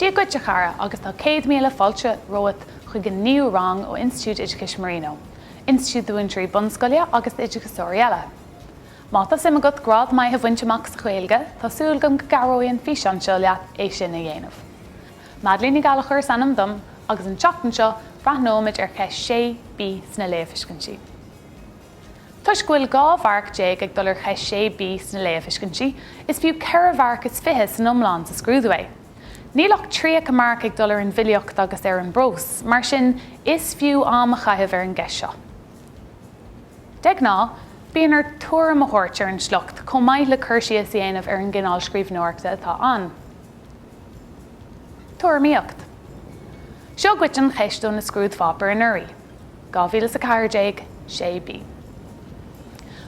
Dia dhuit a chara agus tá céad míle fáilte romhat chuig an naoú rang ó Institiúid Oideachais Marino, institiúid do mhúinteoirí bunscoile agus d'oideachasóirí eile. Má tá suim agat grád maith a bhaint amach sa Ghaeilge, tá súil agam go gcabhróidh an físeán seo leat é sin a dhéanamh. Madeleine Ní Ghallachair is ainm dom agus an tseachtain seo breathnóimid ar cheist 6B sna léamhthuiscintí. Toisc go bhfuil dhá mharc déag ag dul ar cheist 6 B sna léamhthuiscintí, is fiú ceithre mharc is fiche san iomlán sa scrúdú é. Níl ach 30 marc ag dul ar an bhfilíocht agus ar an bprós, mar sin is fiú am a chaitheamh ar an gceist seo. De ghnáth, bíonn ort tuairim a thabhairt ar an sliocht chomh maith le cur síos a dhéanamh ar an gcineál scríbhneoireachta atá ann. Tuairimíocht. Seo dhuit an cheist ó na scrúdpháipéir anuraidh. 2014, 6B.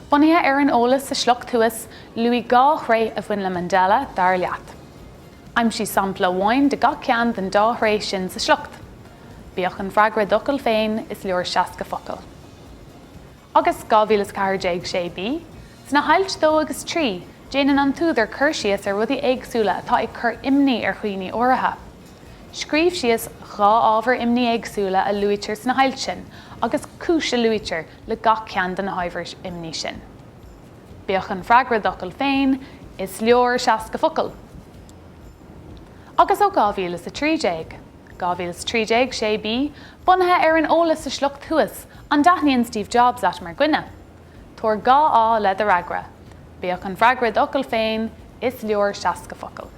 Bunaithe ar an eolas sa sliocht thuas, luaigh dhá thréith a bhain le Mandela, dar leat. Aimsigh sampla amháin de gach ceann den dá thréith sin sa sliocht. Bíodh an freagra i d'fhocail féin, is leor 60 focal. agus 2014, 6B, Sna hailt 2 agus 3, déanann an t-údar cur síos ar rudaí éagsúla atá ag cur imní ar dhaoine áirithe. Scríobh síos dhá ábhar imní éagsúla a luaitear sna hailt sin agus cúis a luaitear le gach ceann de na hábhair imní sin. Bíodh an freagra i d'fhocail féin, is leor 60 focal. Agus ó 2013? 2013, 6B, Bunaithe ar an eolas sa sliocht thuas, an dtaitníonn Steve Jobs leat mar dhuine? Tabhair dhá fháth le do fhreagra. Bíodh an freagra i d'fhocail féin, is leor 60 focal.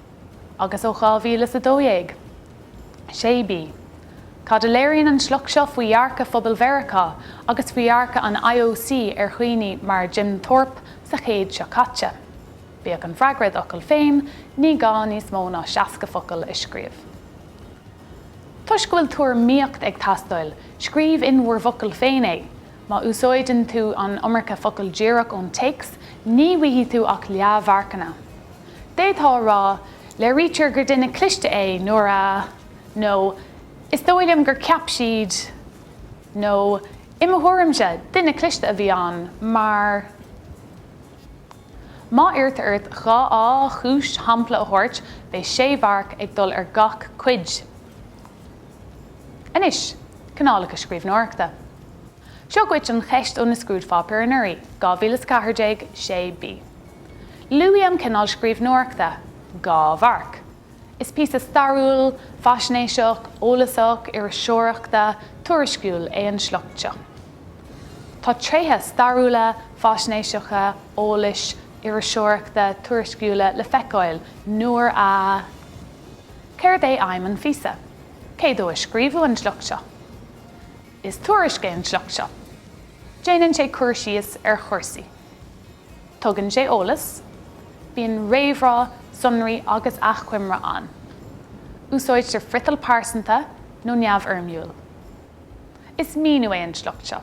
agus ó 2012. 6B, Cad a léiríonn an sliocht seo faoi dhearcadh phobal Mheiriceá agus faoi dhearcadh an IOC ar dhaoine mar Jim Thorpe sa chéad seo caite? Bíodh an freagra i d'fhocail féin, ní gá níos mó ná 60 focal a scríobh. Toisc go bhfuil tuairimíocht ag teastáil, scríobh in bhur bhfocail féin é. Má úsáideann tú an iomarca focal díreach ón téacs, ní bhfaighidh tú ach leathmharcanna. d'fhéadfá a rá, léirítear gur duine cliste é nuair a. nó is dóigh liom gur cheap siad nó i mo thuairimse, duine cliste a bhí ann mar má iarrtar ort dhá chúis nó shampla a thabhairt, beidh sé mharc ag dul ar gach cuid. Anois, cineálacha scríbhneoireachta. Seo dhuit an cheist ó na scrúdpháipéir anuraidh, 2014, 6 B. Luaigh an cineál scríbhneoireachta, dhá mharc. Is píosa stairiúil, faisnéiseach, eolasach, iriseoireachta, tuairisciúil é an sliocht seo. Tá tréithe stairiúla, faisnéiseacha, eolais, iriseoireachta, tuairisciúla le feiceáil nuair a. Céard é aidhm an phíosa? Cé dó a scríobhadh an sliocht seo? Is tuairisc é an sliocht seo. Déanann sé cur síos ar chúrsaí. Tugann sé eolas. Bíonn réamhrá, sonraí agus achoimre ann. Úsáidtear friotal pearsanta nó neamhfhoirmiúil. Is míniú é an sliocht seo.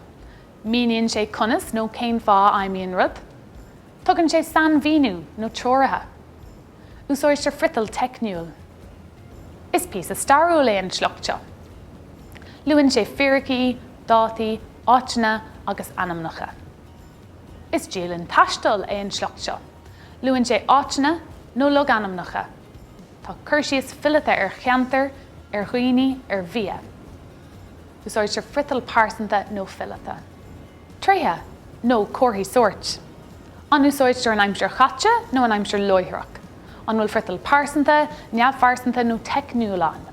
Míníonn sé conas nó cén fáth a fheidhmíonn rud. Tugann sé sainmhíniú nó treoraithe. Úsáidtear friotal teicniúil. Is píosa stairiúil é an sliocht seo. Luann sé fíricí, dátaí, áiteanna agus ainmneacha. Is dialann taistil é an sliocht seo. Luann sé áiteanna nó logainmneacha. Tá cur síos fileata ar cheantar, ar dhaoine, ar bhia. Úsáidtear friotal pearsanta nó fileata. Tréithe nó comharthaí sóirt? An úsáidtear an aimsir chaite nó an aimsir láithreach? An bhfuil friotal pearsanta, neamhphearsanta nó teicniúil ann?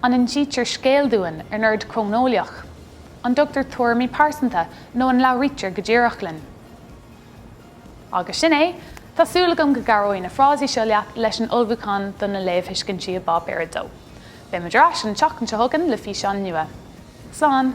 An insítear scéal dúinn in ord cróineolaíoch? An dtugtar tuairimí pearsanta nó an labhraítear go díreach linn? Agus sin é, tá súil agam go gcabhróidh na frásaí seo leat leis an ullmhúchán do na léamhthuiscintí i bPáipéar 2. Beimid ar ais an tseachtain seo chugainn le físeán nua. Slán!